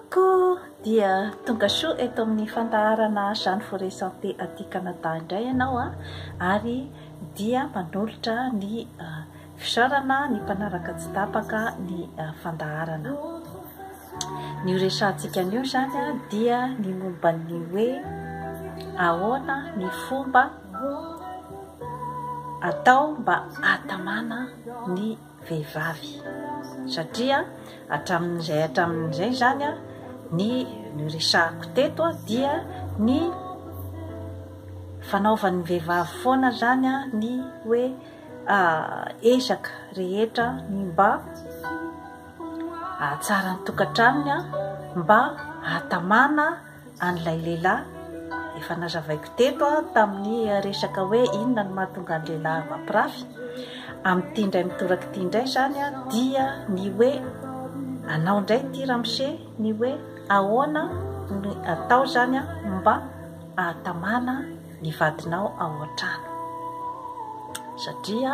Coucou! Dia tonga soa eto amin'ny fandaharana Jeanne Forêt Santé aty Canada indray ianao a! Ary dia manolotra ny fisaorana ny mpanaraka tsy tapaka ny fandaharana. Ny ho resahantsika anio izany a dia ny momba ny hoe ahoana ny fomba atao mba hatamana ny vehivavy satria hatramin'izay hatramin'izay izany ny noresahiko teto dia ny fanaovan'ny vehivavy foana izany ny hoe ezaka rehetra ny mba hahatsara ny tokantranony mba hahatamana an'ilay lehilahy, efa nazavaiko teto tamin'ny resaka hoe inona no mahatonga ny lehilahy mampirafy, amin'ity indray mitoraka ity indray izany dia ny hoe anao indray ity ramose ny hoe ahoana no atao izany mba ahatamana ny vadinao ao an-trano satria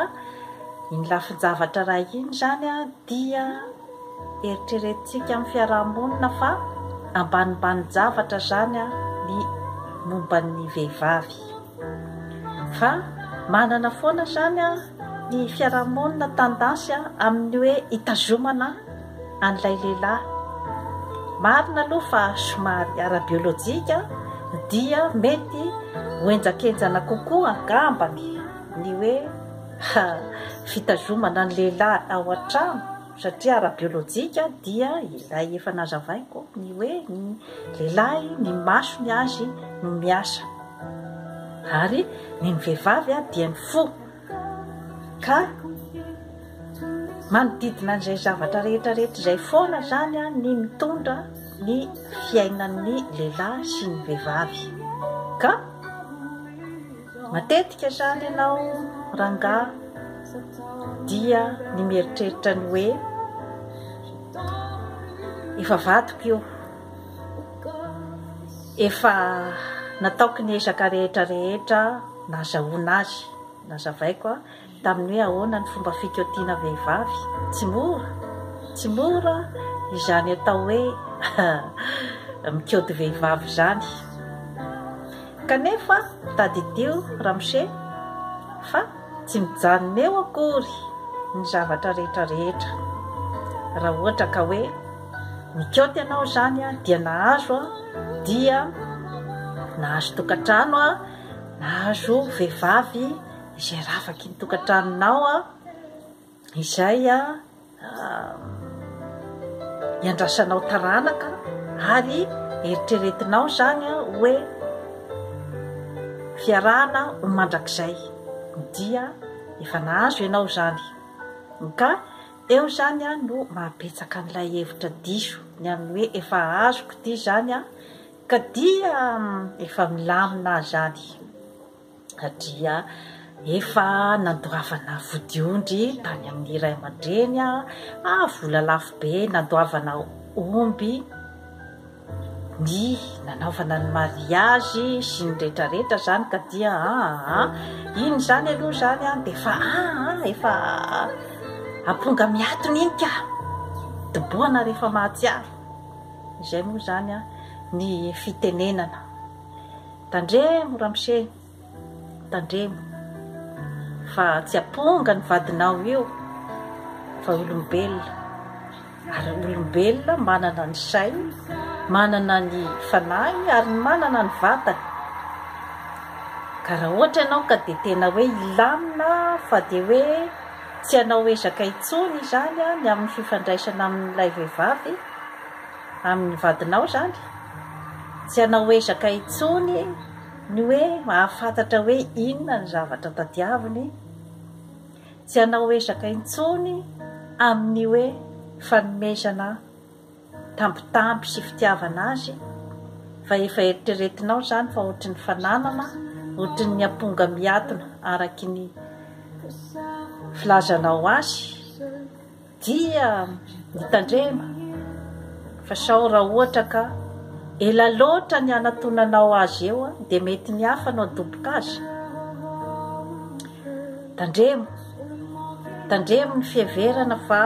iny lafin-javatra iray iny izany dia Eritreretintsika amin'ny fiaraha-monina fa ambanimbani-javatra izany ny momba ny vehivavy. Fa manana foana izany ny fiaraha-monina tendance amin'ny hoe hitazomana an'ilay lehilahy. Marina aloha fa somary ara-biolojika dia mety ho henjankenjana kokoa angambany ny hoe. Ha! Fitazomana ny lehilahy ao an-trano satria ara-biolojika dia ilay efa nazavaiko ny hoe ny lehilahy ny masony azy no miasa ary ny ny vehivavy dia ny fo ka manodidina an'izay zavatra rehetra rehetra izay foana izany ny mitondra ny fiainan'ny lehilahy sy ny vehivavy ka Matetika izany ianao rangahy dia ny mieritreritra ny hoe efa vadiko io, efa nataoko ny ezaka rehetra rehetra nazahoana azy, nazavaiko an. Tamin'ny hoe ahoana ny fomba fikaotiana vehivavy? Tsy mora! Tsy mora izany atao hoe mikaoty vehivavy izany. Kanefa tadidio ramose fa tsy mijanona eo akory ny zavatra rehetra rehetra. Raha ohatra ka hoe nikaoty anao izany aho dia nahazo aho dia nahazo tokantrano aho, nahazo vehivavy, izay ravaky ny tokantranonao a izay a iandrasanao taranaka ary eritreretinao zany a hoe fiarahana ho mandrakizay dia efa nahazo ianao zany ka eo zany a no mahabetsaka an'ilay hevitra diso ny amin'ny hoe efa azoko ity zany a ka dia efa milamina zany satria efa nandoavana vodiondry tany amin'ny ray aman-dreny aho, ah vola lafo be, nandoavana omby, ny nanaovana ny mariazy sy ny rehetrarehetra izany ka dia ah ah iny izany aloha izany ah dia efa ah ah efa amponga miatona iny ka dobohana rehefa mahatsiaro izay moa izany ah ny fitenenana Tandremo ramose, tandremo fa tsy aponga ny vadinao io fa olombelona ary olombelona manana ny sainy, manana ny fanahiny ary manana ny vatany. Ka raha ohatra ianao ka dia tena hoe hilamina fa dia hoe tsy hanao ezaka intsony izany ny amin'ny fifandraisana amin'ilay vehivavy, amin'ny vadinao izany, tsy hanao ezaka intsony ny hoe hahafantatra hoe inona ny zavatra tadiaviny, tsy hanao ezaka intsony amin'ny hoe fanomezana tambitamby sy fitiavana azy, fa efa eritreretinao izany fa ohatry ny fananana, ohatry ny amponga miatona araka ny filazanao azy. Dia mitandrema fa sao raha ohatra ka ela loatra ny hanatonanao azy eo dia mety ny hafa no hadoboka azy. Tandremo, tandremo ny fiheverana fa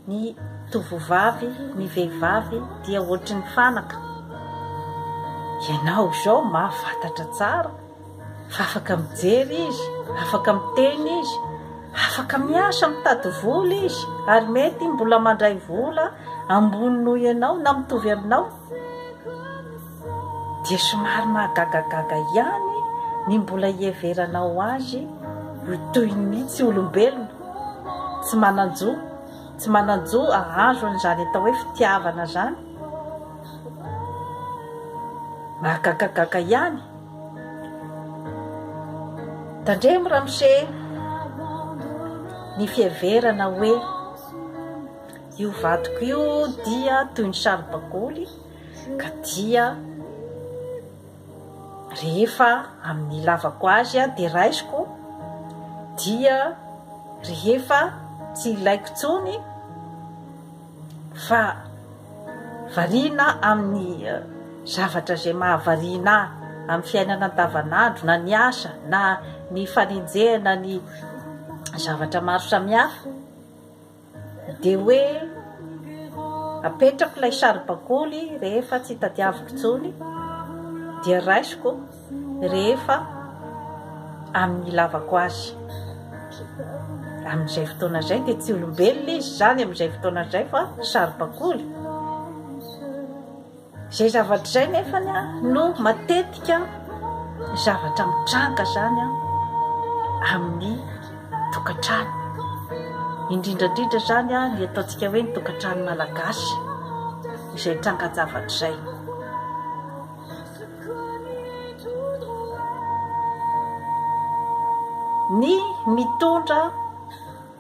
ny tovovavy, ny vehivavy dia ohatry ny fanaka. Ianao izao mahafatatra tsara. Fa afaka mijery izy, afaka miteny izy, afaka miasa mitady vola izy, ary mety mbola mandray vola ambony noho ianao na mitovy aminao. Dia somary mahagagagaga ihany ny mbola hiheveranao azy ho toy ny tsy olombelona, tsy manan-jo, tsy manan-jo hahazo an'izany atao hoe fitiavana izany. Mahagagagaga ihany. Tandremo ramose ny fiheverana hoe io vadiko io dia toy ny saribakoly ka dia rehefa amin'ny ilavako azy aho dia raisiko dia rehefa tsy ilaiko intsony fa variana amin'ny zavatra izay mahavariana ahy amin'ny fiainana andavanandro na ny asa na ny fanenjehana ny zavatra maro samihafa dia hoe apetrako ilay saribakoly rehefa tsy tadiaviko intsony dia raisiko rehefa amin'ny ilavako azy. Amin'izay fotoana izay dia tsy olombelona izy izany amin'izay fotoana izay fa saribakoly. Izay zavatra izay nefa no matetika zavatra mitranga izany amin'ny tokantrano. Indrindra indrindra izany ny ataontsika hoe ny tokantrano malagasy izay tranga-javatra izay. Ny mitondra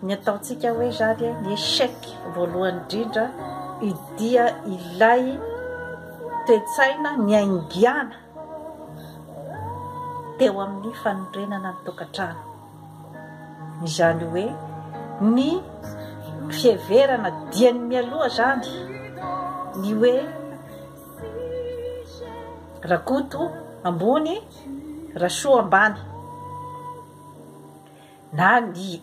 ny ataontsika hoe izany ny échec voalohany indrindra dia ilay toe-tsaina niaingàna teo amin'ny fanorenana ny tokantrano. Izany hoe ny fiheverana dieny mialoha izany ny hoe. Rakoto ambony, Rasoa ambany. Na ny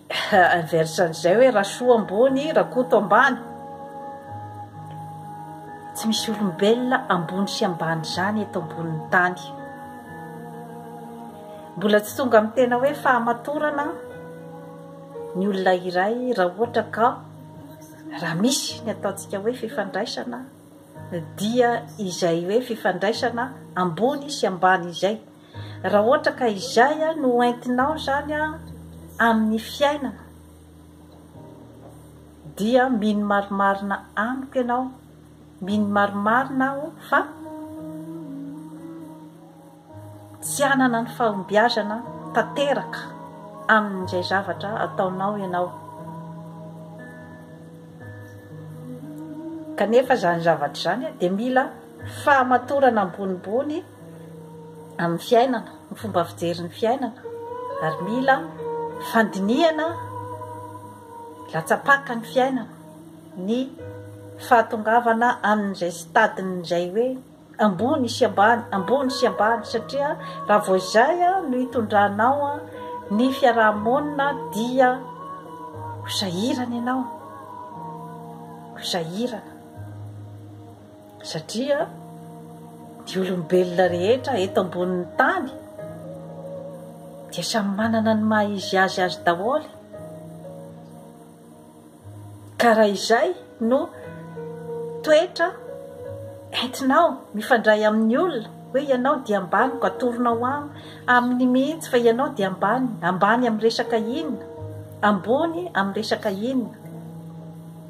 inverse an'izay hoe Rasoa ambony, Rakoto ambany. Tsy misy olombelona ambony sy ambany izany eto ambonin'ny tany. Mbola tsy tonga amin'ny tena hoe fahamatorana ny olona iray raha ohatra ka raha misy ny ataontsika hoe fifandraisana dia izay hoe fifandraisana ambony sy ambany izay, raha ohatra ka izay no ho entinao izany amin'ny fiainana dia mino marimarina amiko ianao, mino marimarina aho fa. Tsy hanana ny fahombiazana tanteraka amin'izay zavatra ataonao ianao. Kanefa izany zavatra izany dia mila fahamatorana ambonimbony amin'ny fiainana, ny fomba fijery ny fiainana, ary mila fandinihana latsa-paka ny fiainana, ny fahatongavana amin'izay stade-n'izay hoe. ambony sy ambany, ambony sy ambany, satria raha vao izay no hitondranao ny fiaraha-monina dia ho sahirana ianao, ho sahirana, satria ny olombelona rehetra eto ambonin'ny tany dia samy manana ny maha-izy azy azy daholo e! Ka raha izay no toetra entinao mifandray amin'ny olona hoe ianao dia ambaniko, atoronao aminy mihitsy fa ianao dia ambany, ambany amin'ny resaka inona? ambony amin'ny resaka inona?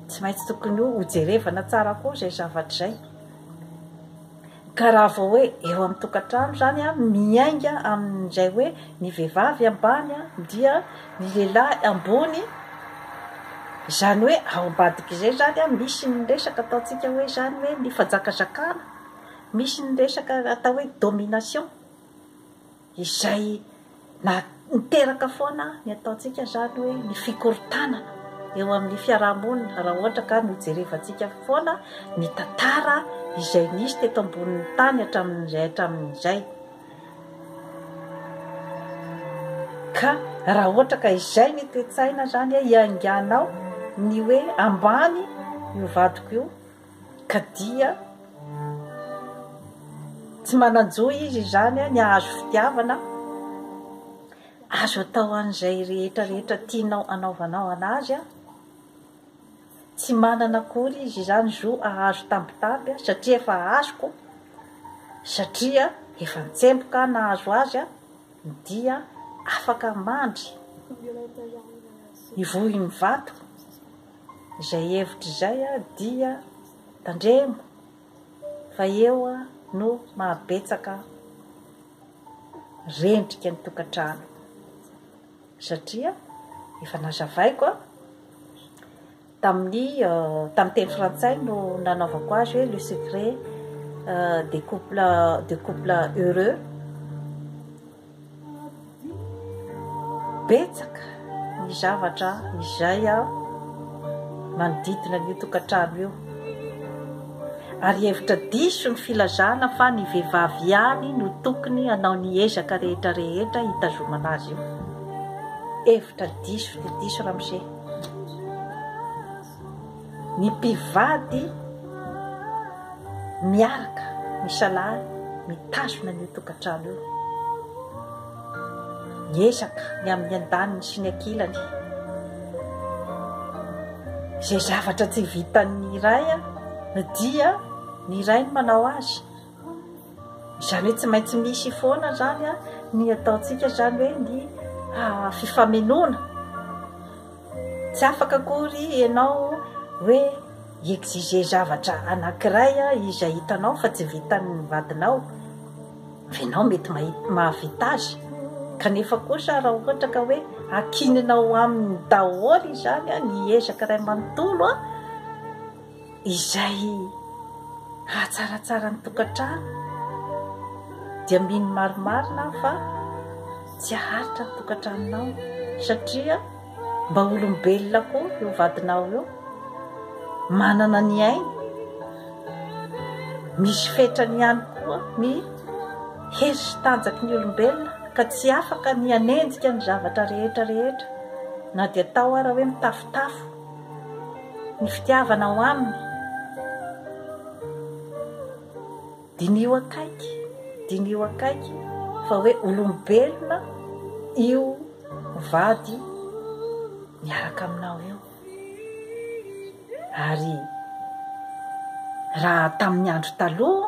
tsy maintsy tokony hojerevana tsara koa izay zavatra izay. Ka raha vao hoe eo amin'ny tokantrano izany an, miainga amin'izay hoe ny vehivavy ambany an, dia ny lehilahy ambony, izany hoe ao ambadik'izay izany an, misy ny resaka ataontsika hoe izany hoe ny fanjakazakana, misy ny resaka atao hoe domination. izay na niteraka foana ny ataontsika izany hoe ny fikorontanana eo amin'ny fiaraha-monina raha ohatra ka nojerevantsika foana ny tantara izay nisy teto ambonin'ny tany hatramin'izay hatramin'izay ka raha ohatra ka izay ny toe-tsaina izany hiainganao ny hoe ambany io vadiko io ka dia tsy manan-jo izy izany ny hahazo fitiavana azo atao an'izay rehetra rehetra tianao anaovanao an'azy an tsy manana akory izy izany zo ahazo tambitamby an satria efa azoko satria efa ntsemboka an nahazo azy an dia afaka mandry ny vohin'ny vato Izay hevitra izay dia tandremo fa eo no mahabetsaka rendrika ny tokantrano satria efa nazavaiko tamin'ny tamin'ny teny frantsay no nanaovako azy hoe le secret de couple de couple heureux Betsaka ny zavatra izay manodidina an'io tokantrano io ary hevitra diso ny filazana fa ny vehivavy ihany no tokony hanao ny ezaka rehetra rehetra hitazomana azy io. Hevitra diso dia diso ramose. Ny mpivady miaraka misalahy mitazona an'io tokantrano io. Miezaka ny amin'ny andaniny sy ny ankilany. Izay zavatra tsy vitan'ny iray dia ny iray no manao azy. Izany hoe tsy maintsy misy foana izany ny ataontsika izany hoe ny fifamenoana. Tsy afaka akory ianao hoe hi-exiger zavatra anankiray izay hitanao fa tsy vitan'ny vadinao, fa ianao mety mahavita azy. Kanefa kosa raha ohatra ka hoe ankininao aminy daholo izany ny ezaka iray manontolo, izay hahatsaratsara ny tokantrano dia mino marimarina aho fa tsy haharitra ny tokantranonao satria mba olombelona koa eo vadinao eo manana ny ainy misy fetrany ihany koa ny hery sy tanjaky ny olombelona ka tsy afaka ny hanenjika ny zavatra rehetra rehetra na dia tao ara hoe mitafotafo ny fitiavanao aminy. Diniho akaiky, diniho akaiky fa hoe olombelona io mivady miaraka aminao io. Ary raha tamin'ny andro taloha,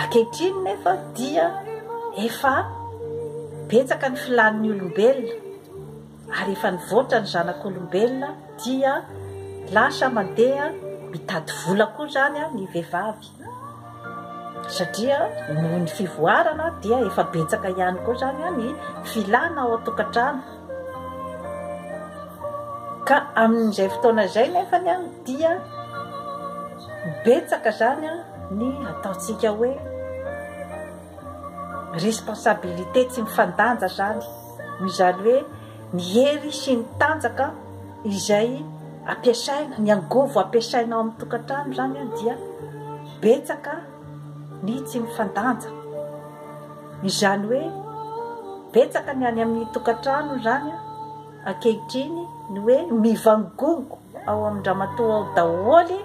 Ankehitriny nefa dia efa betsaka ny filàn'ny olombelona ary efa nivoatra ny zanak'olombelona dia lasa mandeha mitady vola koa izany ny vehivavy satria noho ny fivoarana dia efa betsaka ihany koa izany ny filàna ao an-tokantrano. Ka amin'izay fotoana izay nefa ny an dia betsaka zany an ny ataontsika hoe responsabilité tsy mifandanja zany no izany hoe ny hery sy ny tanjaka izay ampiasaina ny angovo ampiasaina ao amin'ny tokantrano zany an dia betsaka ny tsy mifandanja Izany hoe betsaka ny any amin'ny tokantrano izany ankehitriny ny hoe mivangongo ao amin-dramatoa ao daholo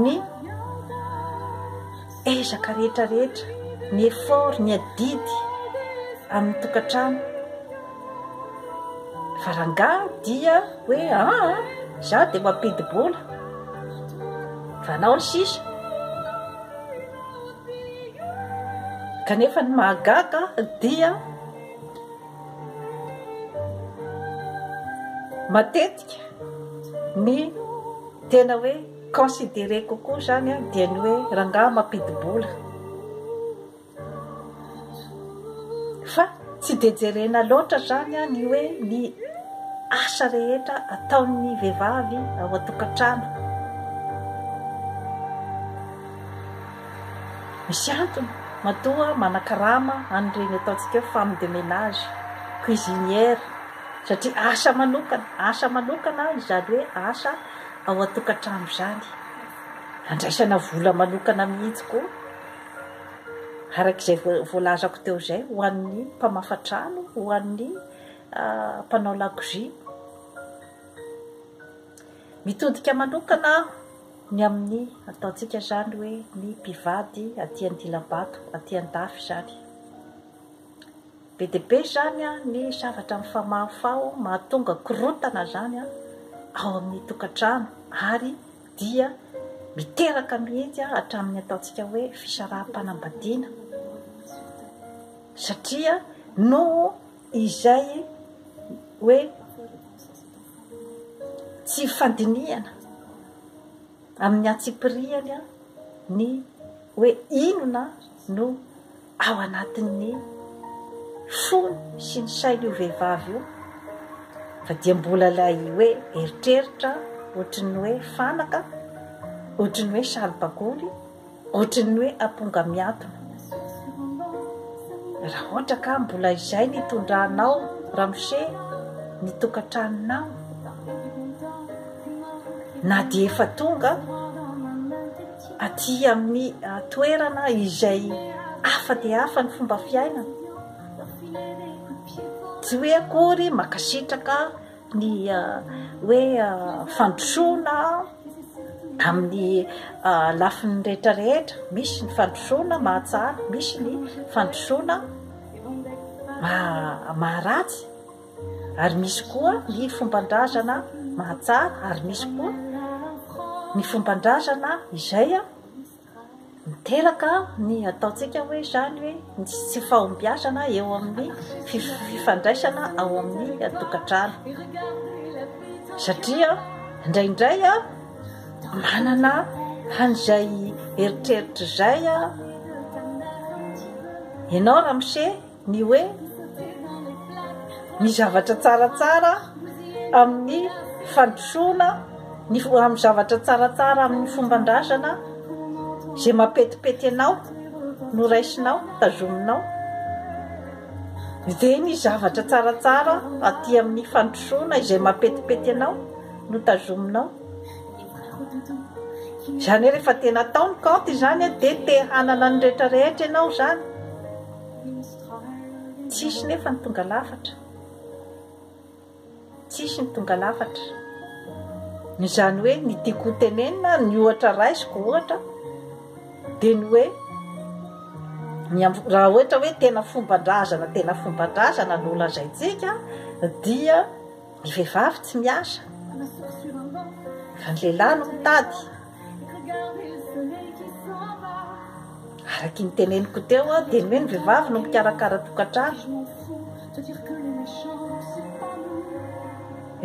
ny ezaka rehetra rehetra, ny effort, ny adidy amin'ny tokantrano fa rangahy dia hoe aa ah, za dia mampidi-bola fa anao ry sisa Kanefa ny mahagaga dia matetika ny tena hoe considerer kokoa izany dia ny hoe rangahy mampidi-bola. Fa tsy dia jerena loatra izany ny hoe ny asa rehetra ataon'ny vehivavy ao an-tokantrano. Misy antony, matoa manakarama an'ireny ataontsika hoe femme de ménage, cuisinière, satria asa manokana, asa manokana izany hoe asa ao an-tokantrano izany. Andraisana vola manokana mihitsy koa, araka izay voalazako teo izay, ho an'ny mpamafa trano, ho an'ny mpanao lakozia. Mitodika manokana aho. Ny amin'ny ataontsika izany hoe ny mpivady aty Andilambato, aty Andafy izany. Be dia be izany ny zavatra mifamahofaho mahatonga korontana izany ao amin'ny tokantrano ary dia miteraka mihitsy hatramin'ny ataontsika hoe fisaraham-panambadiana satria noho izay hoe tsy fandinihana amin'ny antsipirihany ny hoe inona no ao anatin'ny fony sy ny sainy io vehivavy io fa dia mbola ilay hoe eritreritra ohatry ny hoe fanaka ohatry ny hoe saribakoly Ohatry ny hoe amponga miatona. Raha ohatra ka mbola izay ny itondranao ramose ny tokantranonao na dia efa tonga aty amin'ny ah, toerana izay hafa dia hafa ny fomba fiainana. Tsy hoe akory makasitraka ny hoe fandrosoana amin'ny lafiny rehetra rehetra misy ny fandrosoana mahatsara misy ny fandrosoana maharatsy ary misy koa ny fomban-drazana mahatsara ary misy koa ny fomban-drazana izay a Miteraka ny ataontsika hoe izany hoe ny tsy fahombiazana eo amin'ny fifandraisana ao amin'ny tokantrano. Satria indraindray manana an'izay eritreritra izay ianao ramose. ny hoe ny zavatra tsaratsara amin'ny fandrosoana, ny amin'ny zavatra tsaratsara amin'ny fomban-drazana, izay mampetipety anao no raisinao, tazominao, dia ny zavatra tsaratsara aty amin'ny fandrosoana izay mampetipety anao no tazominao. Izany hoe rehefa tena atao ny kaonty izany dia te hanana ny rehetra rehetra ianao izany. Tsisy nefa ny tonga lafatra. Tsisy ny tonga lafatra. Izany hoe ny tiako ho tenenina, ny ohatra raisiko ohatra dia ny hoe raha ohatra hoe tena fomban-drazana tena fomban-drazana no lazaintsika dia ny vehivavy tsy miasa fa ny lehilahy no mitady. Araky ny teneniko teo aho dia ny hoe ny vehivavy no mpikarakara tokantrano.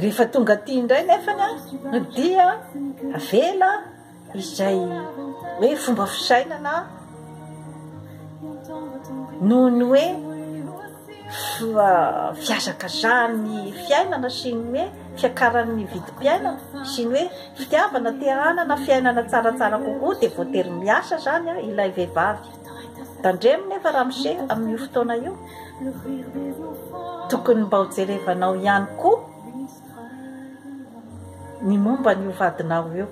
Rehefa tonga aty indray nefany no dia avela izay hoe fomba fisainana noho ny hoe fihazakazahany ny fiainana sy ny hoe fiakarany ny vidim-piainana sy ny hoe fitiavana te hanana fiainana tsaratsara kokoa dia voatery miasa zany a ilay vehivavy tandremo nefa ramose amin'io fotoana io tokony mba ho jerevanao ihany koa ny momba ny hovadinao io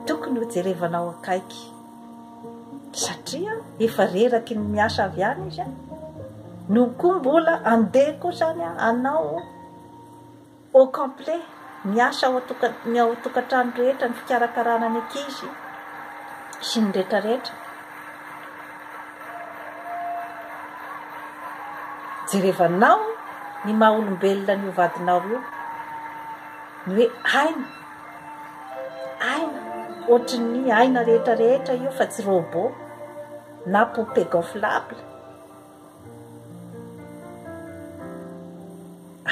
Tokony ho jerevanao akaiky satria efa reraky ny miasa avy any izy a no koa mbola andeha koa zany a anao au complet miasa ao atoka ny ao tokantrano rehetra ny fikarakarana ny ankizy sy ny retraretra jerevanao ny maha olombelona ny hovadinao io ny hoe aina Aina, ohatry ny aina rehetra rehetra io fa tsy robot na poupée gonflable.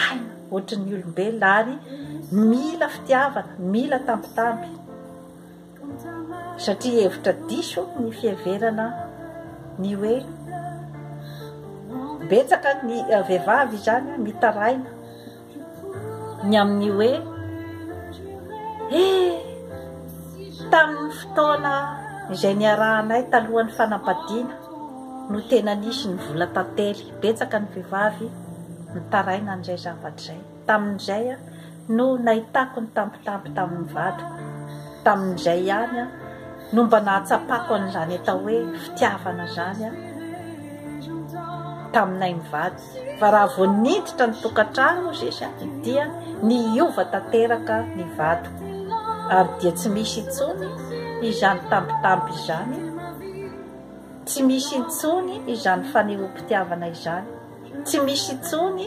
Aina, ohatry ny olombelona ary mila fitiavana, mila tambitamby. Satria hevitra diso ny fiheverana ny hoe betsaka ny vehivavy izany mitaraina ny amin'ny hoe eh tamin'ny fotoana izay niarahanay talohan'ny fanambadiana no tena nisy ny vola tantely betsaka ny vehivavy mitaraina an'izay zavatra izay tamin'izay a no nahitako ny tampotampo tamin'ny vadiko tamin'izay ihany a no mba nahatsapako an'izany atao hoe fitiavana izany a taminay mivady Fa raha vao niditra ny tokantrano Zesa dia niova tanteraka ny vady ary dia tsy misy intsony izany tambitamby izany, tsy misy intsony izany fanehoam-pitiavana izany, tsy misy intsony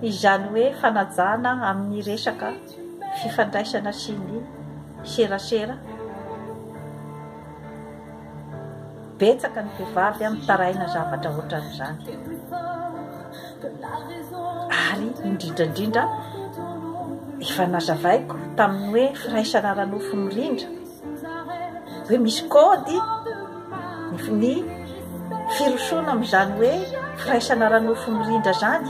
izany hoe fanajana amin'ny resaka fifandraisana sy ny serasera. Betsaka ny vehivavy mitaraina zavatra ohatran'izany. Ary indrindra indrindra efa nazavaiko tamin'ny hoe firaisana ara-nofo mirindra hoe misy kôdy ny firosoana amin'izany hoe firaisana ara-nofo mirindra izany.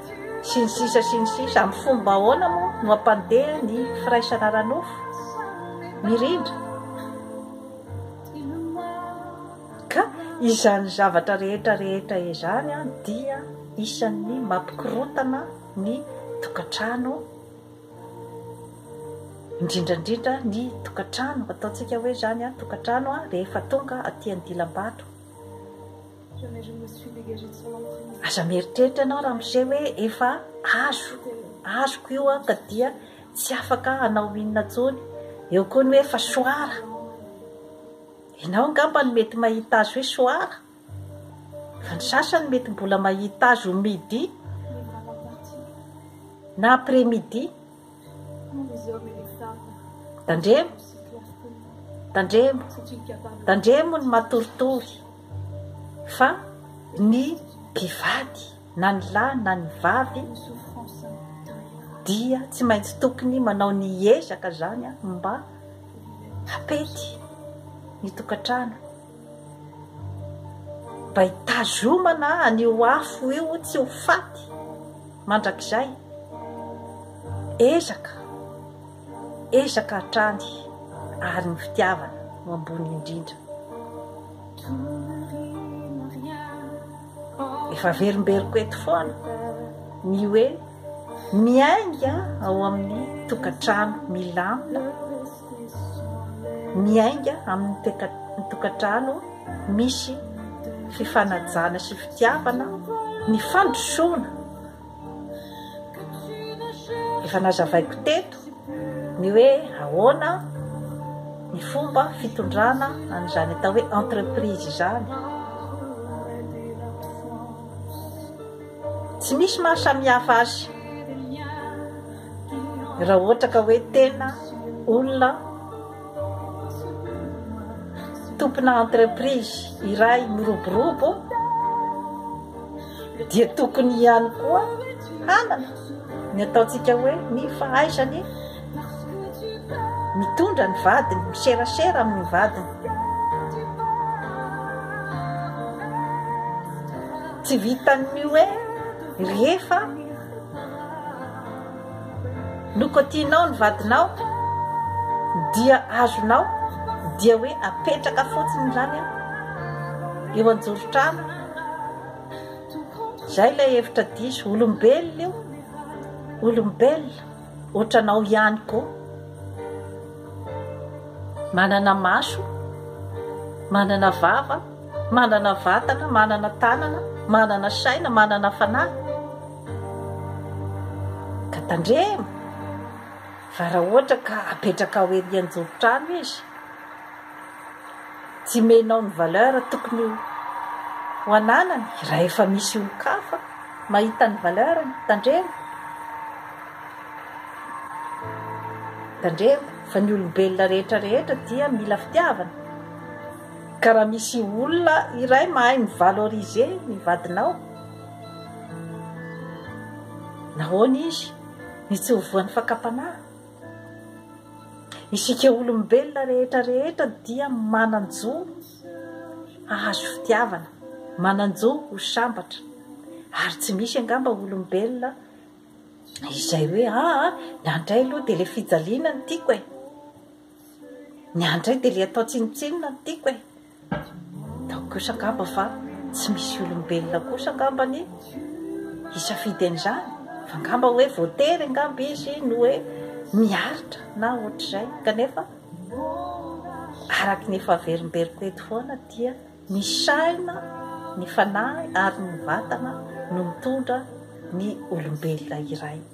sy ny sisa sy ny sisa amin'ny fomba ahoana moa no hampandeha ny firaisana ara-nofo? Mirindra ka izany zavatra rehetra rehetra izany dia isan'ny mampikorotana ny tokantrano indrindra indrindra ny tokantrano ataontsika hoe izany tokantrano rehefa tonga aty an-dilam-bato Aza mieritreritra ianao ramose hoe efa azo azoko io an ka dia tsy afaka hanao inona intsony, eo koa ny hoe efa soara, ianao angamba no mety mahita azy hoe soara fa ny sasany mety mbola mahita azy ho midi na après midi. Tandremo, tandremo, tandremo ny matoritory fa ny mpivady na ny lahy na ny vavy dia tsy maintsy tokony manao ny ezaka zany mba hapety ny tokantrano. Mba hitazomana an'io afo io tsy ho faty mandrakizay. Ezaka, ezaka hatrany ary ny fitiavana no ambony indrindra. Efa averimberiko eto foana ny hoe miainga ao amin'ny tokantrano milamina. miainga amin'ny tokantrano misy fifanajana sy fitiavana ny fandrosoana efa nazavaiko teto ny hoe ahoana ny fomba fitondrana an'izany atao hoe entreprise izany tsy misy maha samihafa azy Raha ohatra ka hoe tena olona tompona entreprise iray miroborobo dia tokony ihany koa hanana ny ataontsika hoe ny fahaizany mitondra ny vadiny, miserasera amin'ny vadiny. Tsy vitan'ny hoe rehefa No ko tianao ny vadinao dia azonao dia hoe apetraka fotsiny izany an eo anjoron-trano zay ilay hevitra diso olombelona io olombelona ohatranao ihany ko manana maso manana vava Manana vatana, manana tanana, manana saina, manana fanahy. Ka tandremo fa raha ohatra ka apetrakao ery anjoron-trano izy, tsy menao ny valeur tokony ho ananany, raha efa misy olon-kafa mahita ny valeur-ny, tandremo. Tandremo fa ny olombelona rehetra rehetra dia mila fitiavana. Ka raha misy olona iray mahay mi-valoriser ny vadinao, nahoana izy ny tsy ho voan'ny fakam-panahy? Isika olombelona rehetra rehetra dia manan-jo hahazo fitiavana, manan-jo ho sambatra, ary tsy misy angamba olombelona izay hoe aa ny an'dray aloha dia ilay fijaliana no tiako e! Ny ahy indray dia ilay atao tsinontsinona no tiako e! Ataoko kosa angamba fa tsy misy olombelona kosa angamba ny hisafidy an'izany fa angamba hoe voatery angamba izy no hoe miaritra na ohatr'izay kanefa araka ny efa averimberiko eto foana dia ny saina ny fanahy ary ny vatana no mitondra ny olombelona iray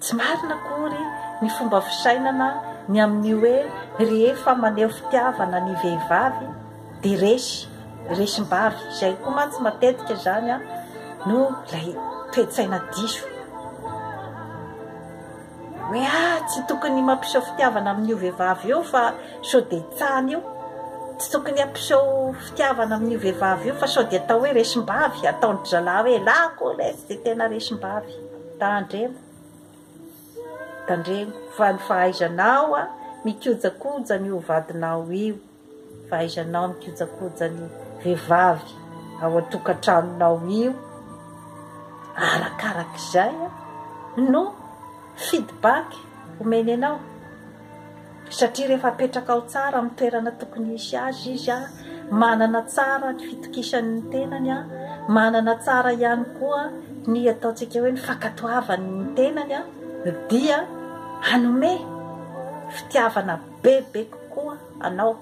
Tsy marina akory ny fomba fisainana ny amin'ny hoe rehefa maneho fitiavana ny vehivavy dia resy, resim-bavy, izay koa mantsy matetika izany no ilay toe-tsaina diso hoe ah tsy tokony mampiseho fitiavana amin'io vehivavy io fa sao dia tsany io, tsy tokony hampiseho fitiavana amin'io vehivavy io fa sao dia atao hoe resim-bavy, ataon-dry zalahy hoe elako lesy dia tena resim-bavy. Tandremo, tandremo fa ny fahaizanao mikojakoja an'io vadinao io, fahaizanao mikojakoja ny vehivavy ao an-tokantranonao io, arakarak'izay no feedback omeny anao. Satria rehefa apetraka ao tsara amin'ny toerana tokony hisy azy izy, manana tsara ny fitokisany ny tenany, manana tsara ihany koa ny ataontsika hoe ny fankatoavany ny tenany, dia hanome fitiavana bebe kokoa anao.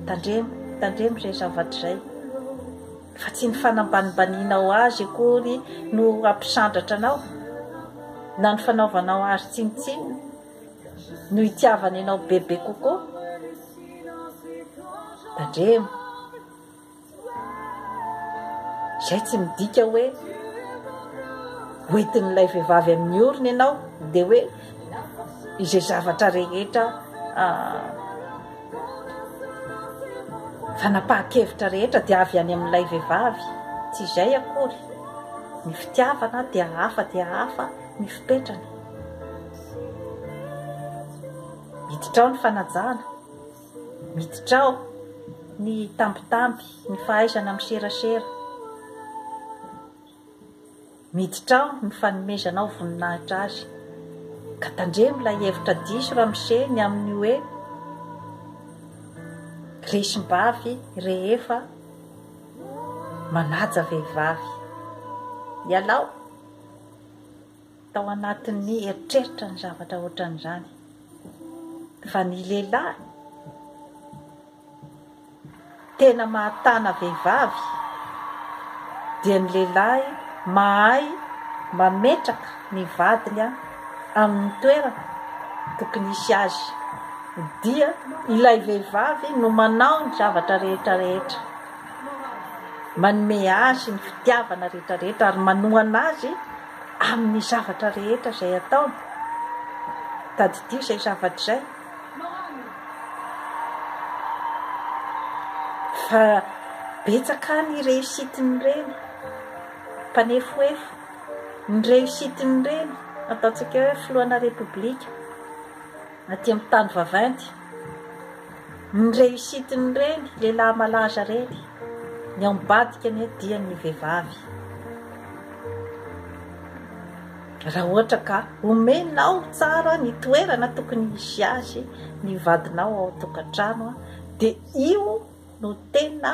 Tandremo, tandremo izay zavatra izay. Fa tsy ny fanambanimbanianao azy akory no hampisandratra anao, na ny fanaovanao azy tsinontsinona no hitiavany anao bebe kokoa. Tandremo. Izay tsy midika hoe hoentin'ilay vehivavy amin'ny orony ianao dia hoe izay zavatra rehetra fanapahan-kevitra rehetra dia avy any amin'ilay vehivavy. Tsy izay akory. Ny fitiavana dia hafa dia hafa ny fipetrany. Hiditra ao ny fanajana. Miditra ao ny tambitamby, ny fahaizana miserasera. Miditra ao ny fanomezanao voninahitra Azy. Ka tandremo ilay hevitra diso ramose ny amin'ny hoe, resim-bavy rehefa manaja vehivavy. Ialao. Tao anatin'ny eritreritra ny zavatra ohatran'izany, fa ny lehilahy tena mahatana vehivavy dia ny lehilahy mahay mametraka ny vadiny amin'ny toerana tokony hisy azy, dia ilay vehivavy no manao ny zavatra rehetra rehetra, manome azy ny fitiavana rehetra rehetra ary manohana azy. Amin'ny zavatra rehetra izay ataony, tadidio izay zavatra izay, fa betsaka ny réussite-n'ireny mpanefoefo, ny réussite-n'ireny ataontsika hoe filohana Repoblika. Aty amin'ny tany vaventy, ny reussite-n'ireny lehilahy malaza ireny, ny ao ambadika anie dia ny vehivavy. Raha ohatra ka omenao tsara ny toerana tokony hisy azy ny vadinao ao an-tokantrano dia io no tena.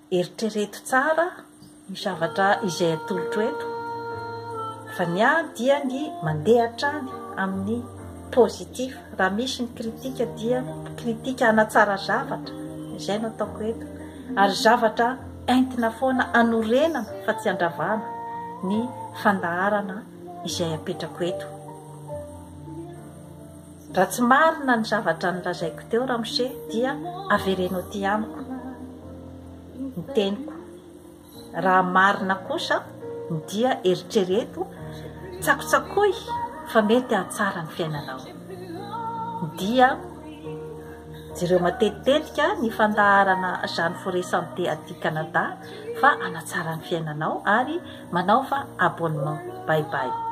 Eritrereto tsara io zavatra izay atolotro eto fa ny ahy dia ny mandeha hatrany amin'ny positif, raha misy ny critique dia critique hanatsara zavatra, izay no ataoko eto, ary zavatra entina foana hanorenana fa tsy handravana ny fandaharana izay apetrako eto. Raha tsy marina ny zavatra nolazaiko teo ramose dia avereno aty amiko ny teniko. Raha marina kosa dia eritrereto, tsakotsakoy fa mety hahatsara ny fiainanao. Dia jereo matetitetika ny fandaharana Jeanne Forêt Santé aty Canada fa hanatsara ny fiainanao ary manaova abonnement. Bye bye.